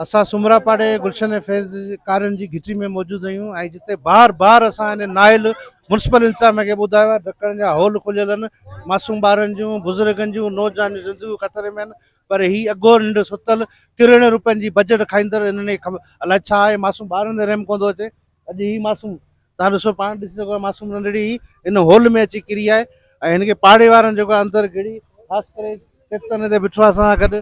اسان سومرا پاڙي گلشن ۽ فيض ڪارين جي گهٽي ۾ موجود آهيون ۽ جتي بار بار اسان ان نائل ميونسپل انتظاميه کي ٻڌايو آهي ڊڪڻ جا هول کليل آهن معصوم ٻارن جون بزرگن جون نوجوانن جون زندگيون خطري ۾ آهن پر هي اگهو ننڊ ستل ڪروڙين روپين جي بجيٽ کائيندڙ انهن کي الائي ڇا آهي معصوم ٻارن تي رحم ڪوندو اچي اڄ هي معصوم تان ڏسو پاڻ ڏسي سگهو معصوم ننڍڙي هي ان هول ۾ اچي ڪري آهي ۽ هن کي پاڙي وارن جيڪو اندر گهڙي خاص ڪري چيتن هتي بيٺو آهي اسان سان گڏ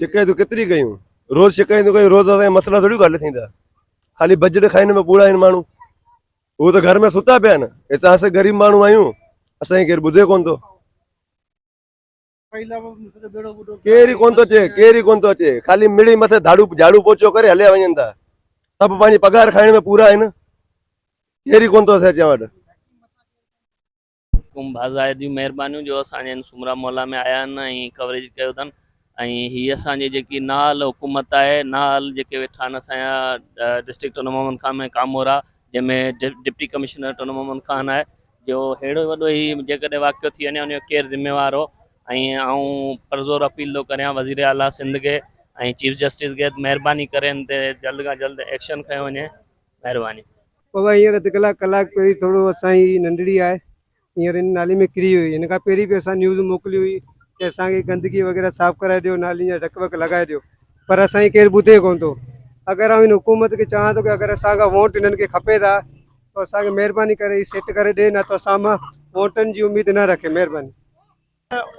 شڪايتون ڪيتري ڪيون روز شڪايتون ڪيون روز اسان مسئلا ٿوري حل ٿيندا خالي بجيٽ کائن ۾ ٻوڙا آهن ماڻهو هو ته گهر ۾ ستا پيا آهن هتان اسان غريب ماڻهو آهيون اسانکي ڪير ٻڌي ڪون ٿو ڪير ئي ڪون ٿو اچي ڪير ئي ڪون ٿو اچي خالي مڙي مٿي ڌاڙو جھاڙو پوچو ڪري هليا وڃن ٿا سڀ پنهنجي پگهار کائڻ ۾ پورا آهن ڪير ئي ڪون ٿو اسان چوٽ ڪم بازائر جون مهربانيون جو اسان جي هن سومرا محلا ۾ آيا آهن ۽ ڪوريج ڪيو اٿن ۽ هي اسان جي جيڪي نااهل حڪومت آهي نااهل جيڪي ويٺا آهن اسان جا ڊسٽرڪٽ ٽنڊو محمد خان ۾ ڪامورا جنهن ۾ ڊپٽي ڪمشنر ٽنڊو محمد خان آهي جو هيڙو وڏو هي جيڪڏهن واقعو ٿي وڃي ان جو ڪير ذميوار هو ۽ آئون پرزور اپيل ٿو ڪريان وزير اعلٰي سنڌ کي ۽ چيف جسٽس کي مهرباني ڪري ان تي جلد کان جلد ايڪشن کنيو وڃي مھرباني. بابا ھينئر اڌ ڪلاڪ ڪلاڪ پھرين ٿورو اسان ھي ننڍڙي آھي ھينئر ھن نالي ۾ ڪري ھئي ھن کان پھرين به اسان نيوز موڪلي ھئي ڪي اسان کي گندگي وغيره صاف ڪرائي ڏيو نالين جا ڍڪ وڪ لڳائي ڏيو پر اسان جي ڪير ٻڌي ڪون ٿو اگر آئون ھن حڪومت کي چاھان ٿو ڪي اگر اسان کان ووٽ ھنن کي کپي ٿا تو اسان کي مھرباني ڪري ھي سيٽ ڪري ڏي نه تو اسان مان ووٽن جي اميد نه رکي مھرباني.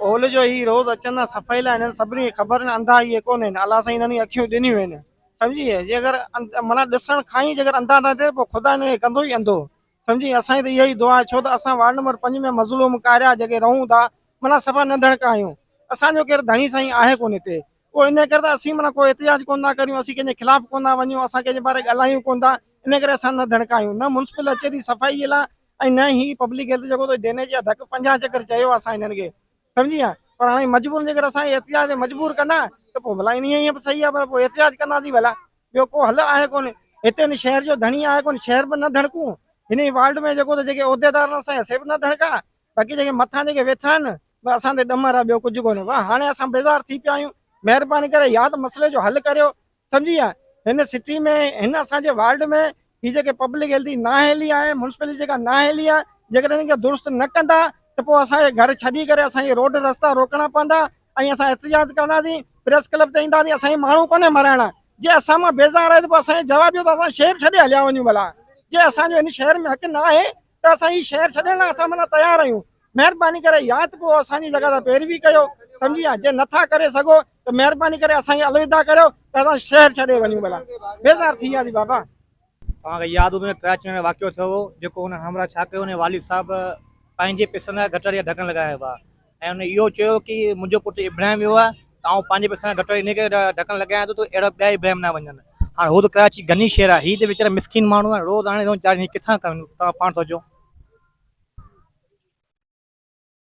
هول جو هي روز اچن ها صفائي لا هنن سڀني کي خبر هن انڌا هي ڪون هن الله سائين هنن اکيون ڏنيون هن سمجهي جي اگر منا ڏسڻ کان هي اگر انڌا نه ٿي پو خدا هنن کي ڪندو هي انڌو سمجهي اسان جي ته اها ئي دعا آهي ڇو ته اسان وارڊ نمبر 5 ۾ مظلوم ڪاريا جيڪي رهون ٿا منا صفا ننڍڻڪا آهيون اسان جو ڪير ڌڻي سائين آهي ڪون هتي پو ان ڪري ته اسين منا ڪو احتجاج ڪون ٿا ڪريون اسين ڪنهن جي خلاف ڪون ٿا وڃون اسان ڪنهن جي باري ڳالهايون ڪون ٿا ان ڪري اسان ننڍڻڪا آهيون نه مونسپل اچي ٿي صفائي لا ۽ نه هي پبلڪ هيلٿ جيڪو تو ڊيني جي ادهڪ 50 چڪر چيو اسان هنن کي سمجهي ها پر هاڻي مجبورن جيڪر اسان کي احتجاج تي مجبور ڪندا ته پوء ڀلا انهي هي صحيح آهي پر پوء احتجاج ڪنداسين ڀلا ٻيو ڪو حل آهي ڪونه هتي هن شهر جو ڌڻي آهي ڪونه شهر به نه ڌڻڪون هن ئي وارڊ ۾ جيڪو ته جيڪي عهديدار اسان سي به نه ڌڻڪا باقي جيڪي مٿان جيڪي ويٺا آهن بس اسان تي ڏمر آهي ٻيو ڪجهه ڪونه بس هاڻي اسان بيزار ٿي پيا آهيون مهرباني ڪري يا ته مسئلي جو حل ڪريو سمجهي ويا هن سٽي ۾ هن اسان جي وارڊ ۾ هي جيڪي پبلڪ هيلٿ جي نااهلي آهي مونسپلٽي جيڪا نااهلي آهي جيڪڏهن ان کي درست نه ڪندا ته پوء اسانکي گهر ڇڏي ڪري اسانکي روڊ رستا روڪڻا پوندا ۽ اسان احتجاج ڪنداسين پريس ڪلب تي اينداسين اسانکي ماڻهو ڪونهي مرائڻا جي اسان مان بيزار آهي ته پوء اسانکي جواب ڏيو ته اسان شهر ڇڏي هليا وڃون ڀلا جي اسانجو هن شهر ۾ حق نه آهي ته اسان هي شهر ڇڏڻ لاء اسان معنيٰ تيار آهيون مهرباني ڪري يا ته پوء اسان جي جڳهه تان پيروي ڪيو سمجهي يا جي نٿا ڪري سگهو ته مهرباني ڪري اسان کي الوداع ڪريو ته اسان شهر ڇڏي وڃون ڀلا بيزار ٿي وياسي بابا توهان کي ياد هوندو ته ڪراچي ۾ واقعو ٿيو هو جيڪو هن همراهه ڇا ڪيو هن والد صاحب پنهنجي پيسن لاء گٽر جا ڍڪڻ لڳايا هئا ۽ هن اهو چيو ڪي منهنجو پٽ ابراهيم ويو آهي ته آئون پنهنجي پئسن جا گٽر انهي ڪري ڍڪڻ لڳايان ٿو ته اهڙا ٻيا ابراهيم نه وڃن. هاڻ هو ته ڪراچي غني شهر آهي هي ته ويچارا مسڪين ماڻهو آهن روز آڻي روز چارين هي ڪٿان ڪن توهان پاڻ سوچو.